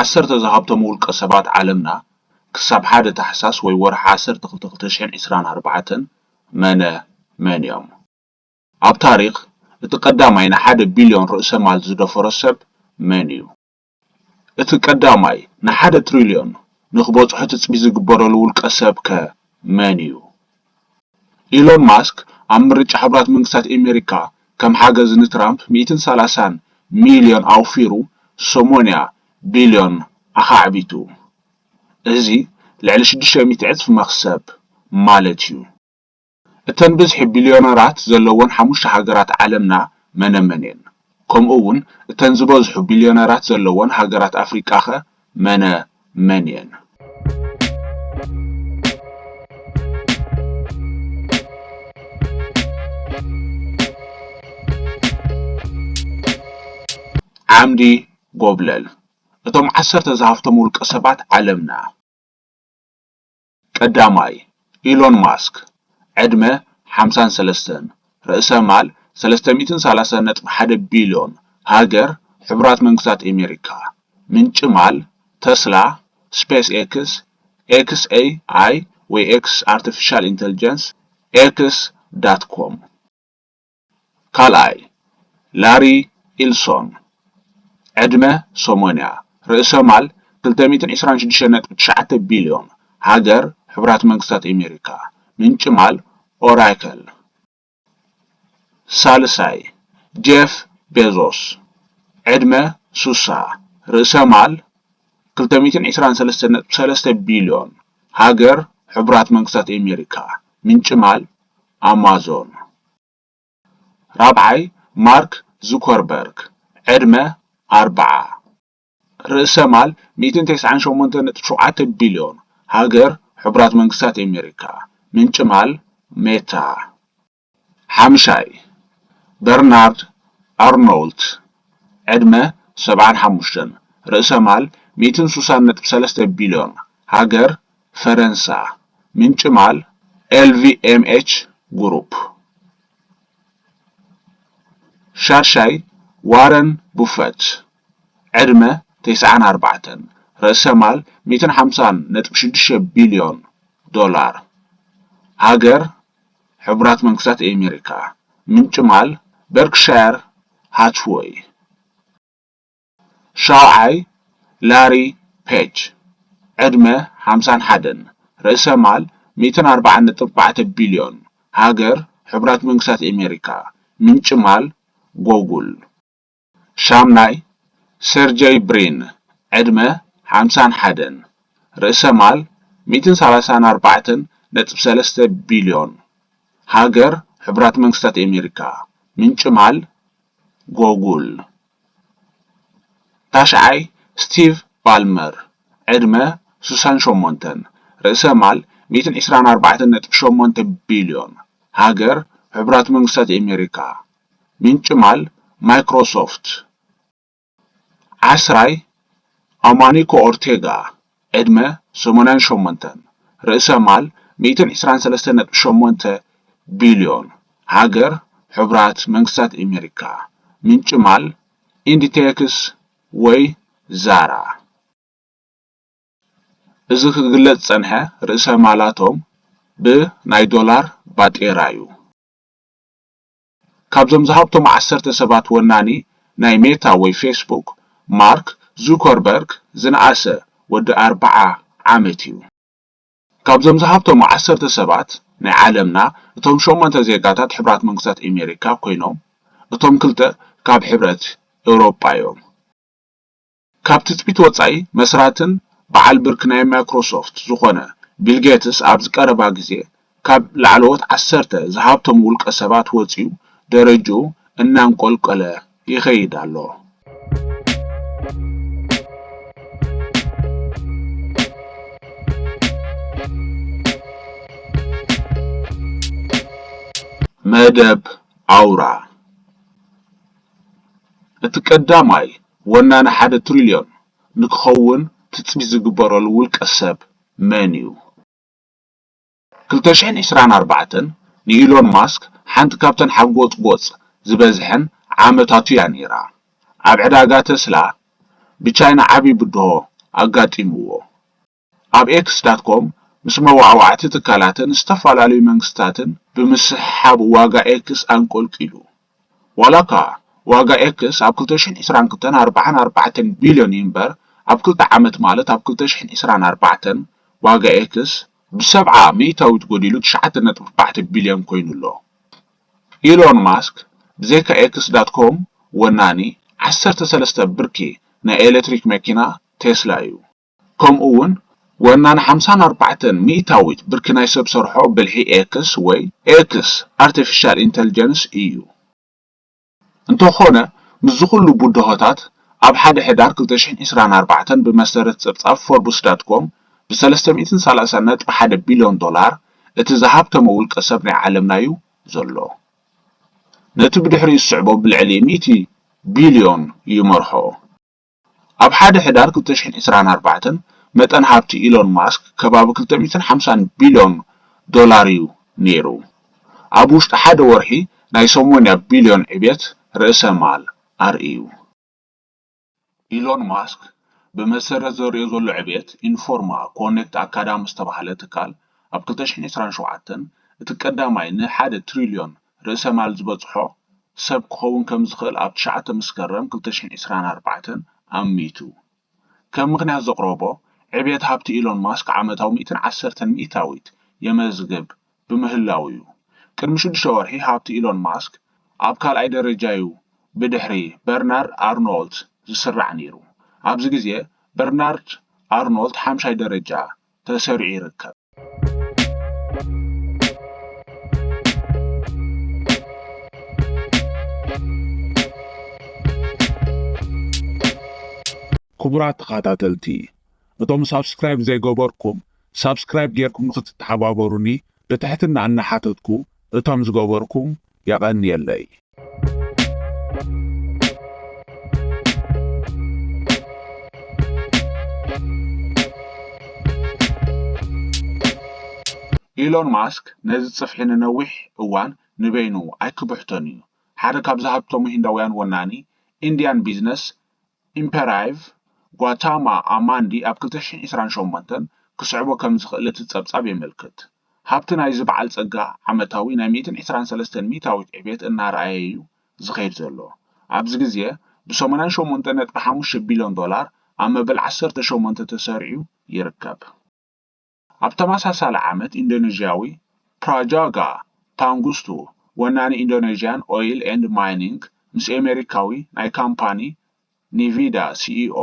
ዓሰርተ ዝሃብቶም ውልቀ ሰባት ዓለምና ክሳብ ሓደ ታሕሳስ ወይ ወርሒ ዓሰርተ ክልተ ክልተ ሽሕን ዕስራን ኣርባዕተን መነ መን እዮም? ኣብ ታሪኽ እቲ ቀዳማይ ንሓደ ቢልዮን ርእሰ ማል ዝደፈሮ ሰብ መን እዩ? እቲ ቀዳማይ ንሓደ ትሪልዮን ንክበፅሖ ትፅቢት ዝግበረሉ ውልቀ ሰብ ከ መን እዩ? ኢሎን ማስክ ኣብ ምርጫ ሕቡራት መንግስታት ኤመሪካ ከም ሓገዝ ንትራምፕ ሚእትን ሰላሳን ሚልዮን ኣውፊሩ ሰሞንያ ቢልዮን ኣኻዕቢቱ። እዚ ልዕሊ ሽዱሽተ ሚእቲ ዕጽፊ መኽሰብ ማለት'ዩ። እተን ብዝሒ ቢልዮነራት ዘለወን ሓሙሽተ ሃገራት ዓለምና መነመን'የን? ከምኡ'ውን እተን ዝበዝሑ ቢልዮነራት ዘለወን ሃገራት ኣፍሪቃ'ኸ መነ መን እየን? ዓምዲ ጎብለል እቶም ዓሰርተ ዝሃፍቶም ውልቀ ሰባት ዓለምና። ቀዳማይ፣ ኢሎን ማስክ፣ ዕድመ፣ ሓምሳን ሰለስተን፣ ርእሰ ማል፣ ሰለስተ ሚእትን ሰላሳን ነጥቢ ሓደ ቢልዮን፣ ሃገር፣ ሕቡራት መንግስታት ኤሜሪካ፣ ምንጪ ማል፣ ተስላ፣ ስፔስ ኤክስ፣ ኤክስ ኤይ ኣይ ወይ ኤክስ ኣርተፊሻል ኢንተልጀንስ፣ ኤክስ ዳት ኮም። ካልኣይ፣ ላሪ ኢልሶን፣ ዕድመ ሰሞንያ ርእሰ ማል ክልተ ሚእትን ዕስራን ሽዱሽተን ነጥቢ ትሽዓተ ቢልዮን፣ ሃገር ሕቡራት መንግስታት ኤሜሪካ፣ ምንጪ ማል ኦራከል፣ ሳልሳይ፣ ጄፍ ቤዞስ፣ ዕድመ ሱሳ ርእሰ ማል ክልተ ሚእትን ዕስራን ሰለስተን ነጥቢ ሰለስተ ቢልዮን፣ ሃገር ሕቡራት መንግስታት ኤሜሪካ፣ ምንጪ ማል ኣማዞን። ራብዓይ ማርክ ዙከርበርግ ዕድመ ኣርብዓ ርእሰ ማል ሚእትን ተስዓን ሸሞንተን ነጥቢ ሸውዓተ ቢልዮን ሃገር ሕቡራት መንግስታት ኣሜሪካ ምንጪ ማል ሜታ ሓምሻይ በርናርድ ኣርኖውልት ዕድመ ሰብዓን ሓሙሽተን ርእሰ ማል ሚእትን ሱሳን ነጥቢ ሰለስተ ቢልዮን ሃገር ፈረንሳ፣ ምንጭማል ኤልቪኤምኤች ግሩፕ፣ ሻድሻይ ዋረን ቡፈት፣ ዕድመ ተስዓን ኣርባዕተን፣ ርእሰ ማል ሚእትን ሓምሳን ነጥቢ ሽዱሽተ ቢልዮን ዶላር፣ ሃገር ሕቡራት መንግስታት ኤሜሪካ፣ ምንጭማል በርክሻየር ሃትዎይ። ሻውዓይ፣ ላሪ ፔጅ፣ ዕድመ ሓምሳን ሓደን፣ ርእሰ ማል ሚእትን ኣርባዓን ነጥቢ ኣርባዕተ ቢልዮን፣ ሃገር ሕቡራት መንግስታት ኤሜሪካ፣ ምንጪ ማል ጎጉል። ሻምናይ፣ ሴርጀይ ብሪን፣ ዕድመ ሓምሳን ሓደን፣ ርእሰ ማል ሚእትን ሰላሳን ኣርባዕተን ነጥቢ ሰለስተ ቢልዮን፣ ሃገር ሕቡራት መንግስታት ኤሜሪካ፣ ምንጪ ማል ጎጉል። ታሽዓይ ስቲቭ ባልመር ዕድመ ስሳን ሸሞንተን ርእሰ ማል ሚእትን ዕስራን ኣርባዕተን ነጥቢ ሸሞንተ ቢልዮን ሃገር ሕቡራት መንግስታት ኤሜሪካ ምንጪ ማል ማይክሮሶፍት ዓስራይ ኣማኒኮ ኦርቴጋ ዕድመ ሰማንያን ሸሞንተን፣ ርእሰ ማል ሚእትን ዕስራን ሰለስተን ነጥቢ ሸሞንተ ቢልዮን፣ ሃገር ሕቡራት መንግስታት ኤመሪካ፣ ምንጪ ማል ኢንዲቴክስ ወይ ዛራ። እዚ ክግለጽ ዝጸንሐ ርእሰ ማላቶም ብ ናይ ዶላር ባጤራ'ዩ። ካብዞም ዝሃብቶም ዓሰርተ ሰባት ወናኒ ናይ ሜታ ወይ ፌስቡክ ማርክ ዙከርበርግ ዝነኣሰ ወዲ ኣርብዓ ዓመት እዩ። ካብዞም ዝሃብቶም ዓሰርተ ሰባት ናይ ዓለምና እቶም ሸሞንተ ዜጋታት ሕቡራት መንግስታት ኤሜሪካ ኮይኖም እቶም ክልተ ካብ ሕብረት ኤውሮጳ እዮም። ካብ ትጽቢት ወጻኢ መስራትን በዓል ብርኪ ናይ ማይክሮሶፍት ዝኾነ ቢል ጌትስ ኣብዚ ቀረባ ግዜ ካብ ላዕለዎት ዓሰርተ ዝሃብተሙ ውልቀ ሰባት ወጺኡ ደረጅኡ እናንቆልቆለ ይኸይድ ኣሎ። መደብ ኣውራ! እቲ ቀዳማይ ወናኒ ሓደ ትሪልዮን ንክኸውን ትፅቢት ዝግበረሉ ውልቀ ሰብ መን እዩ? ክልተ ሽሕን ዕስራን ኣርባዕተን ንኢሎን ማስክ ሓንቲ ካብተን ሓጎፅጎፅ ዝበዝሐን ዓመታቱ እያ ነይራ። ኣብ ዕዳጋ ተስላ ብቻይና ዓብዪ ብድሆ ኣጋጢምዎ። ኣብ ኤክስ ዳት ኮም ምስ መዋዕዋዕቲ ትካላትን ዝተፈላለዩ መንግስታትን ብምስሕሓብ ዋጋ ኤክስ ኣንቆልቂሉ። ዋላ'ኳ ዋጋ ኤክስ ኣብ ክልተ ሽሕን ዕስራን ክልተን ኣርብዓን ኣርባዕተን ቢልዮን እዩ'ምበር፣ ኣብ ክልተ ዓመት ማለት ኣብ ክልተ ሽሕን ዕስራን ኣርባዕተን ዋጋ ኤክስ ብሰብዓ ሚእታዊት ጎዲሉ ትሽዓተ ነጥቢ ኣርባዕተ ቢልዮን ኮይኑ ኣሎ። ኢሎን ማስክ ብዘይካ ኤክስ ዳት ኮም ወናኒ ዓሰርተ ሰለስተ ብርኪ ናይ ኤለትሪክ መኪና ቴስላ እዩ። ከምኡ ውን ወናኒ ሓምሳን ኣርባዕተን ሚእታዊት ብርኪ ናይ ሰብ ሰርሖ ብልሒ ኤክስ ወይ ኤክስ፣ ኣርተፊሻል ኢንተልጀንስ፣ እዩ። እንተኾነ ምስዚ ኹሉ ብድሆታት ኣብ ሓደ ሕዳር ክልተ ሽሕን ዕስራን ኣርባዕተን ብመሰረት ጸብጻብ ፎርብስ ዳት ኮም ብ ሰለስተ ሚእትን ሰላሳን ነጥቢ ሓደ ቢልዮን ዶላር እቲ ዝሃብተመ ውልቀ ሰብ ናይ ዓለምናዩ ዘሎ። ነቲ ብድሕሪኡ ዝስዕቦ ብልዕሊ ሚእቲ ቢልዮን ይመርሖ። ኣብ ሓደ ሕዳር ክልተ ሽሕን ዕስራን ኣርባዕተን መጠን ሃብቲ ኢሎን ማስክ ከባቢ ክልተ ሚእትን ሓምሳን ቢልዮን ዶላር'ዩ ነይሩ። ኣብ ውሽጢ ሓደ ወርሒ ናይ ሰሞንያ ቢልዮን ዕብየት ርእሰ ማል ኣርእዩ። ኢሎን ማስክ ብመሰረት ዘርእዮ ዘሎ ዕብየት፣ ኢንፎርማ ኮኔክት ኣካዳሚ ዝተባህለ ትካል ኣብ ክልተ ሽሕን ዕስራን ሸውዓተን እቲ ቀዳማይ ንሓደ ትሪልዮን ርእሰ ማል ዝበጽሖ ሰብ ክኸውን ከም ዝኽእል ኣብ ትሽዓተ መስከረም ክልተ ሽሕን ዕስራን ኣርባዕተን ኣሚቱ ከም ምኽንያት ዘቕረቦ ዕብየት ሃብቲ ኢሎን ማስክ ዓመታዊ ሚእትን ዓሰርተን ሚእታዊት የመዝግብ ብምህላዉ'ዩ። ቅድሚ ሽዱሽተ ወርሒ ሃብቲ ኢሎን ማስክ ኣብ ካልኣይ ደረጃ'ዩ ብድሕሪ በርናርድ ኣርኖልት ዝስራዕ ነይሩ። ኣብዚ ግዜ በርናርድ ኣርኖልት ሓምሻይ ደረጃ ተሰሪዑ ይርከብ። ክቡራት ተኸታተልቲ እቶም ሳብስክራይብ ዘይገበርኩም ሳብስክራይብ ጌርኩም ንኽትተሓባበሩኒ ብትሕትና እናሓተትኩ እቶም ዝገበርኩም የቐንየለይ። ኢሎን ማስክ ነዚ ጽፍሒ ንነዊሕ እዋን ንበይኑ ኣይክብሕቶን እዩ። ሓደ ካብ ዝሃብተሙ ሂንዳውያን ወናኒ ኢንድያን ቢዝነስ ኢምፐራይቭ ጓታማ ኣማንዲ ኣብ ክልተ ሽሕን ዕስራን ሸሞንተን ክስዕቦ ከም ዝኽእል እቲ ጸብጻብ የመልክት። ሃብቲ ናይዚ በዓል ጸጋ ዓመታዊ ናይ ሚእትን ዕስራን ሰለስተን ሚእታዊት ዕቤት እናርኣየ'ዩ ዝኸይድ ዘሎ። ኣብዚ ግዜ ብ ሰማንያን ሸሞንተን ነጥቢ ሓሙሽተ ቢልዮን ዶላር ኣብ መበል ዓሰርተ ሸሞንተ ተሰሪዑ ይርከብ። ኣብ ተመሳሳሊ ዓመት ኢንዶነዥያዊ ፕራጃጋ ፓንጉስቱ ወናኒ ኢንዶነዥያን ኦይል ኤንድ ማይኒንግ ምስ ኤሜሪካዊ ናይ ካምፓኒ ኒቪዳ ሲኢኦ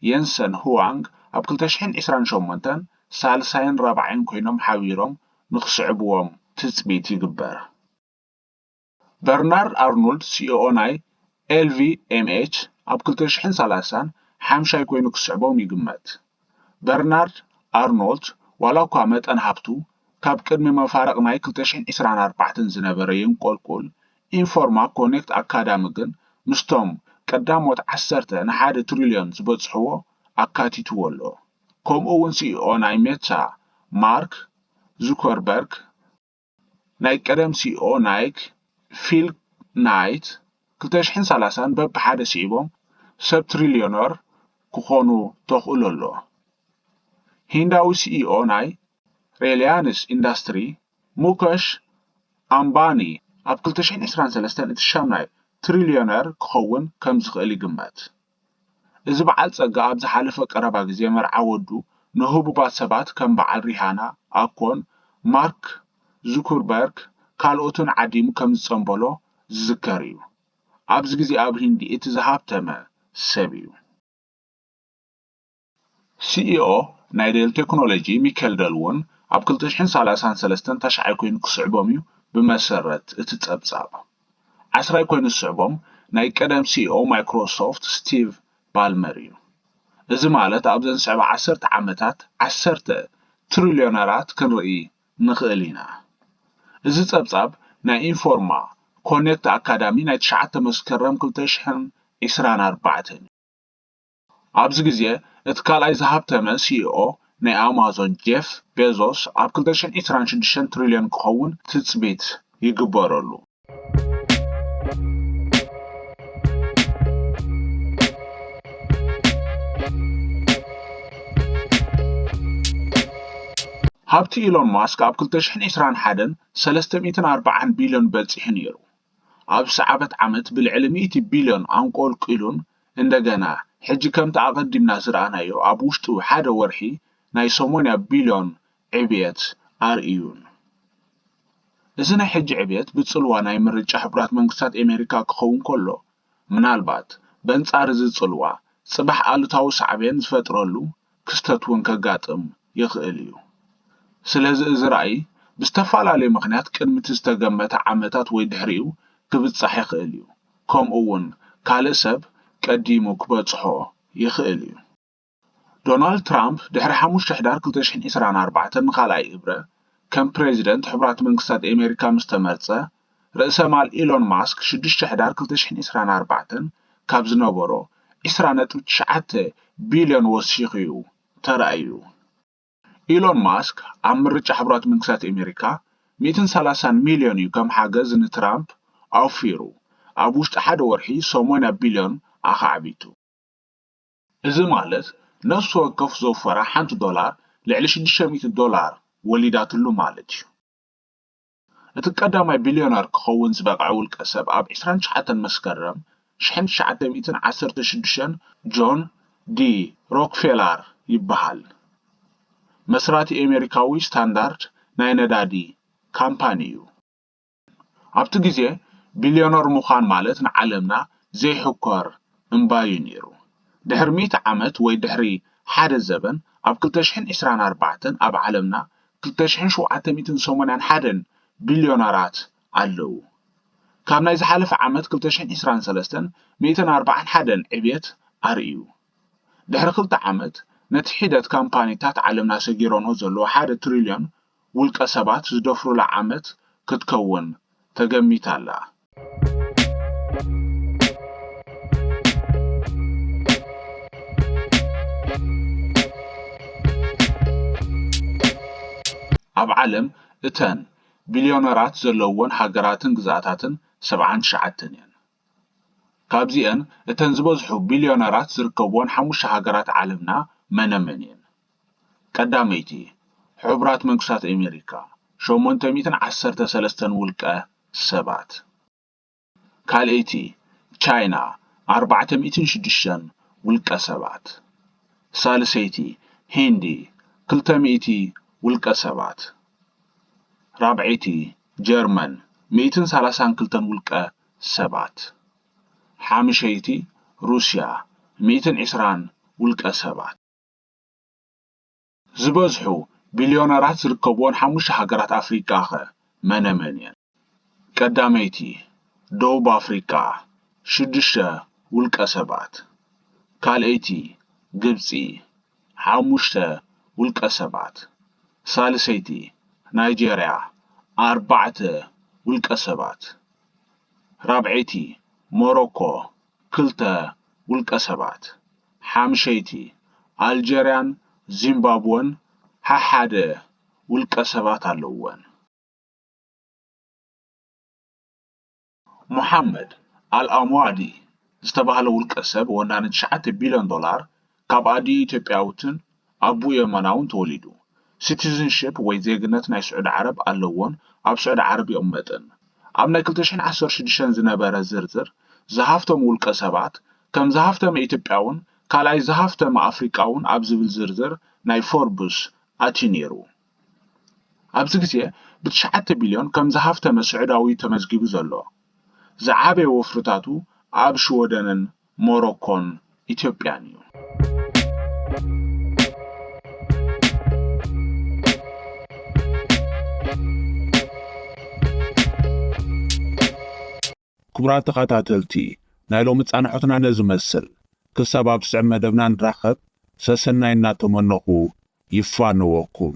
የንሰን ሁዋንግ ኣብ ክልተ ሽሕን ዕስራን ሸሞንተን ሳልሳይን ራብዓይን ኮይኖም ሓቢሮም ንክስዕብዎም ትፅቢት ይግበር። በርናርድ ኣርኖልድ ሲኦኦ ናይ ኤልቪኤምኤች ኣብ ክልተ ሽሕን ሰላሳን ሓምሻይ ኮይኑ ክስዕቦም ይግመት። በርናርድ ኣርኖልት ዋላ እኳ መጠን ሃብቱ ካብ ቅድሚ መፋርቕ ናይ ክልተ ሽሕን ዕስራን ኣርባዕተን ዝነበረ የንቆልቁል፣ ኢንፎርማ ኮኔክት ኣካዳሚ ግን ምስቶም ቀዳሞት ዓሰርተ ንሓደ ትሪልዮን ዝበጽሕዎ ኣካቲትዎ ኣሎ። ከምኡ'ውን ሲኢኦ ናይ ሜታ ማርክ ዙከርበርግ፣ ናይ ቀደም ሲኢኦ ናይክ ፊል ናይት ክልተ ሽሕን ሰላሳን በብሓደ ስዒቦም ሰብ ትሪልዮነር ክኾኑ ተኽእሎ ኣሎ። ሂንዳዊ ሲኢኦ ናይ ሬልያንስ ኢንዳስትሪ ሙከሽ ኣምባኒ ኣብ ክልተ ሽሕን ዕስራን ሰለስተን እቲ ሻምናይ ትሪልዮነር ክኸውን ከምዝኽእል ይግመት። እዚ በዓል ጸጋ ኣብ ዝሓለፈ ቀረባ ግዜ መርዓ ወዱ ንህቡባት ሰባት ከም በዓል ሪሃና፣ ኣኮን፣ ማርክ ዙኩርበርግ ካልኦትን ዓዲሙ ከም ዝጸንበሎ ዝዝከር እዩ። ኣብዚ ግዜ ኣብ ህንዲ እቲ ዝሃብተመ ሰብ እዩ። ሲኢኦ ናይ ዴል ቴክኖሎጂ ሚኬል ደል እውን ኣብ ክልተ ሽሕን ሰላሳን ሰለስተን ታሽዓይ ኮይኑ ክስዕቦም እዩ ብመሰረት እቲ ፀብፃብ። ዓስራይ ኮይኑ ዝስዕቦም ናይ ቀደም ሲኢኦ ማይክሮሶፍት ስቲቭ ባልመር እዩ። እዚ ማለት ኣብዘን ዝስዕባ ዓሰርተ ዓመታት ዓሰርተ ትሪልዮነራት ክንርኢ ንኽእል ኢና። እዚ ፀብፃብ ናይ ኢንፎርማ ኮኔክት ኣካዳሚ ናይ ትሽዓተ መስከረም ክልተ ሽሕን ዒስራን ኣርባዕተን እዩ። ኣብዚ ግዜ እቲ ካልኣይ ዝሃብተመ ሲኢኦ ናይ ኣማዞን ጄፍ ቤዞስ ኣብ ክልተ ሽሕን ዒስራን ሽዱሽተን ትሪልዮን ክኸውን ትፅቢት ይግበረሉ። ሃብቲ ኢሎን ማስክ ኣብ ክልተ ሽሕን ዒስራን ሓደን ሰለስተ ሚእትን ኣርብዓን ቢልዮን በፂሑ ነይሩ። ኣብዚ ሰዓበት ዓመት ብልዕሊ ሚእቲ ቢልዮን ኣንቆልቂሉን እንደገና ሕጂ ከምቲ ኣቐዲምና ዝረኣናዮ ኣብ ውሽጢ ሓደ ወርሒ ናይ ሰሞንያ ቢልዮን ዕብየት ኣርእዩን። እዚ ናይ ሕጂ ዕብየት ብጽልዋ ናይ ምርጫ ሕቡራት መንግስታት ኤመሪካ ክኸውን ከሎ፣ ምናልባት በንጻር እዚ ጽልዋ ጽባሕ ኣሉታዊ ሳዕቤን ዝፈጥረሉ ክስተት እውን ከጋጥም ይኽእል እዩ። ስለዚ እዚ ራእይ ብዝተፈላለዩ ምኽንያት ቅድሚ እቲ ዝተገመተ ዓመታት ወይ ድሕሪኡ ክብጻሕ ይኽእል እዩ። ከምኡ'ውን ካልእ ሰብ ቀዲሙ ክበጽሖ ይኽእል እዩ። ዶናልድ ትራምፕ ድሕሪ ሓሙሽተ ሕዳር ክልተ ሽሕን ዕስራን ኣርባዕተን ንኻልኣይ እብረ ከም ፕረዚደንት ሕቡራት መንግስታት ኤመሪካ ምስ ተመርጸ፣ ርእሰ ማል ኤሎን ማስክ ሽዱሽተ ሕዳር ክልተ ሽሕን ዕስራን ኣርባዕተን ካብ ዝነበሮ ዕስራ ነጥቢ ትሽዓተ ቢልዮን ወሲኹ'ዩ ተራእዩ። ኢሎን ማስክ ኣብ ምርጫ ሕቡራት መንግስታት ኤሜሪካ ሚእትን ሰላሳን ሚልዮን እዩ ከም ሓገዝ ንትራምፕ ኣውፊሩ ኣብ ውሽጢ ሓደ ወርሒ ሰሞንያ ቢልዮን ኣኻዕቢቱ። እዚ ማለት ነፍሲ ወከፍ ዘውፈራ ሓንቲ ዶላር ልዕሊ ሽዱሽተ ሚእቲ ዶላር ወሊዳትሉ ማለት እዩ። እቲ ቀዳማይ ቢልዮነር ክኸውን ዝበቕዐ ውልቀሰብ ኣብ ዕስራን ትሽዓተን መስከረም ሽሕን ትሽዓተ ሚእትን ዓሰርተ ሽዱሽተን ጆን ዲ ሮክፌላር ይበሃል። መስራቲ ኤሜሪካዊ ስታንዳርድ ናይ ነዳዲ ካምፓኒ እዩ። ኣብቲ ግዜ ቢልዮነር ምዃን ማለት ንዓለምና ዘይሕኮር እምባ'ዩ ነይሩ። ድሕሪ ሚእቲ ዓመት ወይ ድሕሪ ሓደ ዘበን ኣብ ክልተ ሽሕን ዕስራን ኣርባዕተን ኣብ ዓለምና ክልተ ሽሕን ሸውዓተ ሚእትን ሰሞንያን ሓደን ቢልዮነራት ኣለዉ። ካብ ናይ ዝሓለፈ ዓመት ክልተ ሽሕን ዕስራን ሰለስተን ሚእትን ኣርብዓን ሓደን ዕብየት ኣርእዩ። ድሕሪ ክልተ ዓመት፣ ነቲ ሒደት ካምፓኒታት ዓለምና ሰጊረንኦ ዘለዉ ሓደ ትሪልዮን ውልቀሰባት ዝደፍሩላ ዓመት ክትከውን ተገሚታ ኣላ። ኣብ ዓለም እተን ቢልዮነራት ዘለዉወን ሃገራትን ግዝኣታትን ሰብዓን ትሽዓተን እየን። ካብዚኤን እተን ዝበዝሑ ቢልዮነራት ዝርከብወን ሓሙሽተ ሃገራት ዓለምና መነመን እየን? ቀዳመይቲ፣ ሕቡራት መንግስታት ኣሜሪካ፣ ሸሞንተ ሚእትን ዓሰርተ ሰለስተን ውልቀ ሰባት። ካልኣይቲ፣ ቻይና፣ ኣርባዕተ ሚእትን ሽዱሽተን ውልቀ ሰባት። ሳልሰይቲ፣ ሂንዲ፣ ክልተ ሚእቲ ውልቀ ሰባት። ራብዐይቲ፣ ጀርመን፣ ሚእትን ሰላሳን ክልተን ውልቀ ሰባት፣ ሓምሸይቲ ሩስያ ሚእትን ዕስራን ውልቀ ሰባት፣ ዝበዝሑ ቢልዮነራት ዝርከብወን ሓሙሽተ ሃገራት ኣፍሪቃ'ኸ መነመን'የን? ቀዳመይቲ፣ ደቡብ ኣፍሪቃ፣ ሽዱሽተ ውልቀ ሰባት፣ ካልኣይቲ፣ ግብጺ፣ ሓሙሽተ ውልቀ ሰባት፣ ሳልሰይቲ፣ ናይጀርያ፣ ኣርባዕተ ውልቀ ሰባት፣ ራብዐይቲ፣ ሞሮኮ፣ ክልተ ውልቀሰባት፣ ሓምሸይቲ፣ ኣልጀርያን ዚምባብወን ሓሓደ ውልቀሰባት ኣለዉወን። ሞሓመድ ኣል-ኣምዋዲ ዝተባህለ ውልቀሰብ ወናኒ ትሽዓተ ቢልዮን ዶላር ካብ ኣዲኡ ኢትዮጵያዊትን ኣቡኡ የመናውን ተወሊዱ። ሲቲዝንሺፕ ወይ ዜግነት ናይ ስዑዲ ዓረብ ኣለዎን ኣብ ስዑዲ ዓረብ ይቕመጥን። ኣብ ናይ ክልተ ሽሕን ዓሰርተ ሽዱሽተን ዝነበረ ዝርዝር ዝሃፍተሙ ውልቀሰባት፣ ከም ዝሃፍተመ ኢትዮጵያውን ካልኣይ ዝሃፍተመ ኣፍሪቃውን ኣብ ዝብል ዝርዝር ናይ ፎርብስ ኣትዩ ነይሩ። ኣብዚ ግዜ ብትሽዓተ ቢልዮን ከም ዝሃፍተመ ስዑዳዊ'ዩ ተመዝጊቡ ዘሎ። ዝዓበየ ወፍርታቱ ኣብ ሽወደንን ሞሮኮን ኢትዮጵያን እዩ። ክቡራት ተኸታተልቲ ናይ ሎሚ ፃንሖትና ነዚ መስል ክሳብ ኣብ ዝስዕብ መደብና ንራኸብ ሰሰናይ እናተመነኹ ይፋነወኩም።